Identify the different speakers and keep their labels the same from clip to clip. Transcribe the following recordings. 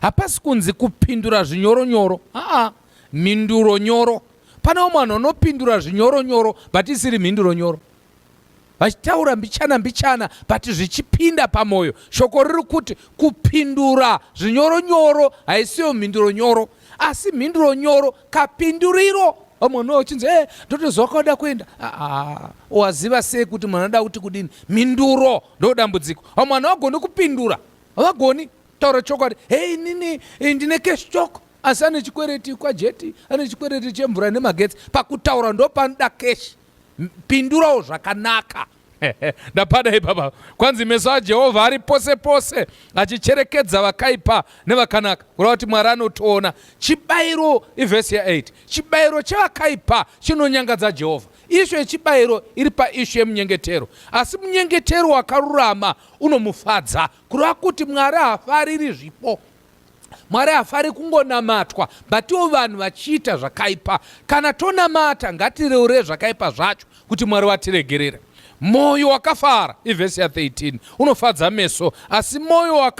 Speaker 1: Hapasi kunzi kupindura zvinyoro nyoro. Haa, mhinduro nyoro. Pane umwe vanhu vanopindura zvinyoro nyoro but isiri mhinduro nyoro. Vachitaura mbichana mbichana but zvichipinda pamoyo. Shoko riri kuti kupindura zvinyoro nyoro haisiyo mhinduro nyoro. Asi mhinduro nyoro kapinduriro vamwe no chinzi e ndotoziva kwauda kuenda ah, ah, waziva sei kuti munhu anoda kuti kudini mhinduro ndodambudziko vamwe vanhu vagoni kupindura havagoni taura chokwadi hei nini eh, ndine cash chok asi ane chikwereti kwajeti ane chikwereti chemvura nemagetsi pakutaura ndopanoda cash pindurawo zvakanaka ndapada ipapa kwanzi meso ajehovha ari pose pose achicherekedza vakaipa nevakanaka kureva kuti mwari anotoona chibayiro ivhesi ya8 chibayiro chevakaipa chinonyangadza jehovha ishu yechibayiro iri paishu yemunyengetero asi munyengetero wakarurama unomufadza kureva kuti mwari hafariri zvipo mwari hafari kungonamatwa batiwo vanhu vachiita zvakaipa kana tonamata ngatireure zvakaipa zvacho kuti mwari vatiregerera mwoyo wakafara ivhesi ya13 unofadza meso asi mwoyo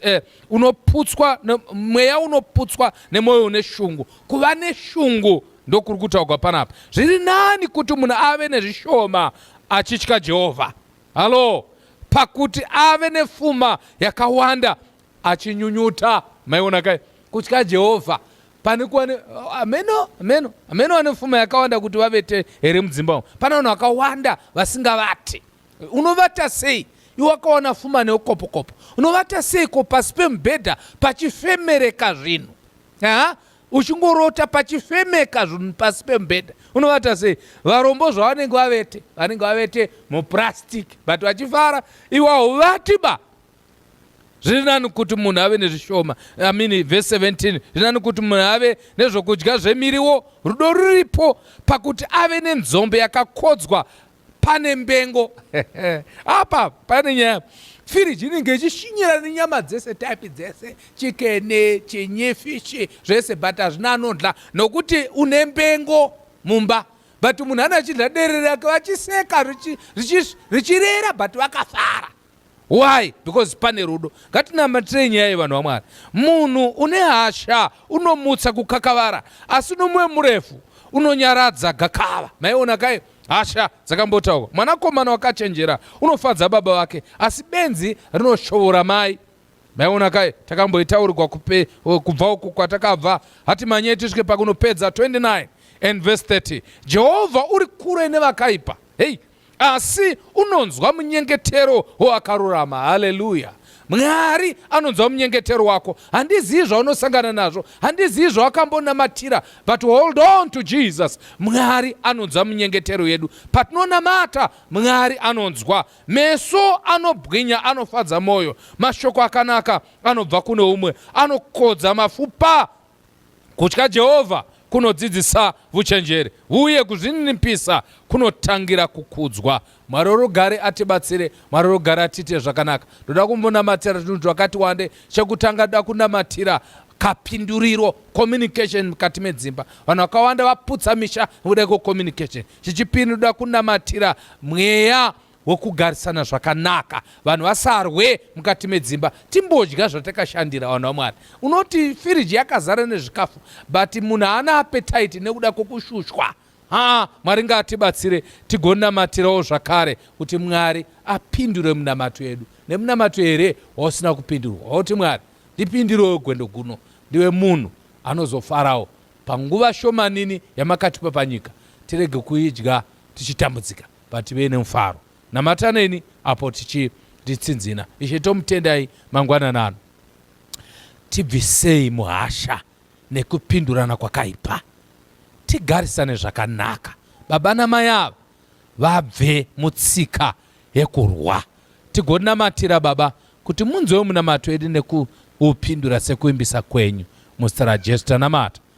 Speaker 1: eh, unoputswa mweya unoputswa nemwoyo une shungu kuva neshungu ndokuri kutaugwa panapa zviri nani kuti munhu ave nezvishoma achitya jehovha Halo, pakuti ave nefuma yakawanda achinyunyuta. Maiona kai kutya Jehovha pane kuva ne ameno ameno ameno vane fuma yakawanda kuti vavete here mudzimba umo. Pane vanhu vakawanda vasingavati. Unovata sei? Iwe wakawana fuma neukopokopo, unovata sei ko pasi pemubhedha pachifemereka zvinhu? Aha, uchingorota pachifemeka zvinhu pasi pemubhedha unovata sei varombo zvavanenge vavete vanenge vavete muplastic but vachifara iwawo vati ba zviri nani kuti munhu ave nezvishoma amini vhesi 17 zviri nani kuti munhu ave nezvokudya zvemiriwo rudo ruripo pakuti ave nenzombe yakakodzwa pane mbengo apa pane nyaya firiji inenge ichishinyira nenyama dzese type dzese chikene chinyi fishi zvese but hazvina anodla nokuti une mbengo mumba but munhu ana achidla dere rake vachiseka richirera but vakafara Why? Because pane rudo. Ngatinamatirei nyaya yevanhu vaMwari. Munhu une hasha unomutsa kukakavara, asi nomwe murefu unonyaradza gakava. Maiona kai? Hasha dzakambotaurwa. Mwanakomana wakachenjera unofadza baba vake, asi benzi rinoshovora mai. Maiona kai? Takamboitaurigwa kupe kubva uku kwatakabva. Hati manyei tisvike pakunopedza 29 and verse 30. Jehovha uri kure nevakaipa. Hei, asi unonzwa munyengetero woakarurama haleluya mwari anonzwa munyengetero wako handizivi zvaunosangana nazvo handizivi zvawakambonamatira but hold on to jesus mwari anonzwa munyengetero yedu patinonamata mwari anonzwa meso anobwinya anofadza mwoyo mashoko akanaka anobva kune umwe anokodza mafupa Kutya Jehovha kunodzidzisa vuchenjeri uye kuzvininipisa kunotangira kukudzwa. Mwari worugare atibatsire, Mwari worugare atiite zvakanaka. Ndoda kumbonamatira zvinhu zvakati wande. Chekutanga da kunamatira kapinduriro communication mukati medzimba vanhu vakawanda vaputsa misha nekuda kwecommunication chichipiri ndoda kunamatira mweya hwekugarisana zvakanaka vanhu vasarwe mukati medzimba timbodya zvatakashandira vanhu vamwari unoti firiji yakazara nezvikafu but munhu haana apetaiti nekuda kwekushushwa haa mwari ngaatibatsire tigonamatirawo zvakare kuti mwari apindure munamato yedu nemunamato here wausina kupindurwa wauti mwari ndipindirewo gwendo guno ndiwe munhu anozofarawo panguva shomanini yamakatipa panyika tirege kuidya tichitambudzika Ngativei nemufaro. Namataneni apo tichitsinzina. Ishe tomutendai mangwanana ano. Tibvisei muhasha nekupindurana kwakaipa. Tigarisane zvakanaka. Baba namai ava vabve mutsika yekurwa. Tigonamatira baba kuti munzwewo munamato edu nekuupindura sekuimbisa kwenyu. Muzita raJesu tanamata.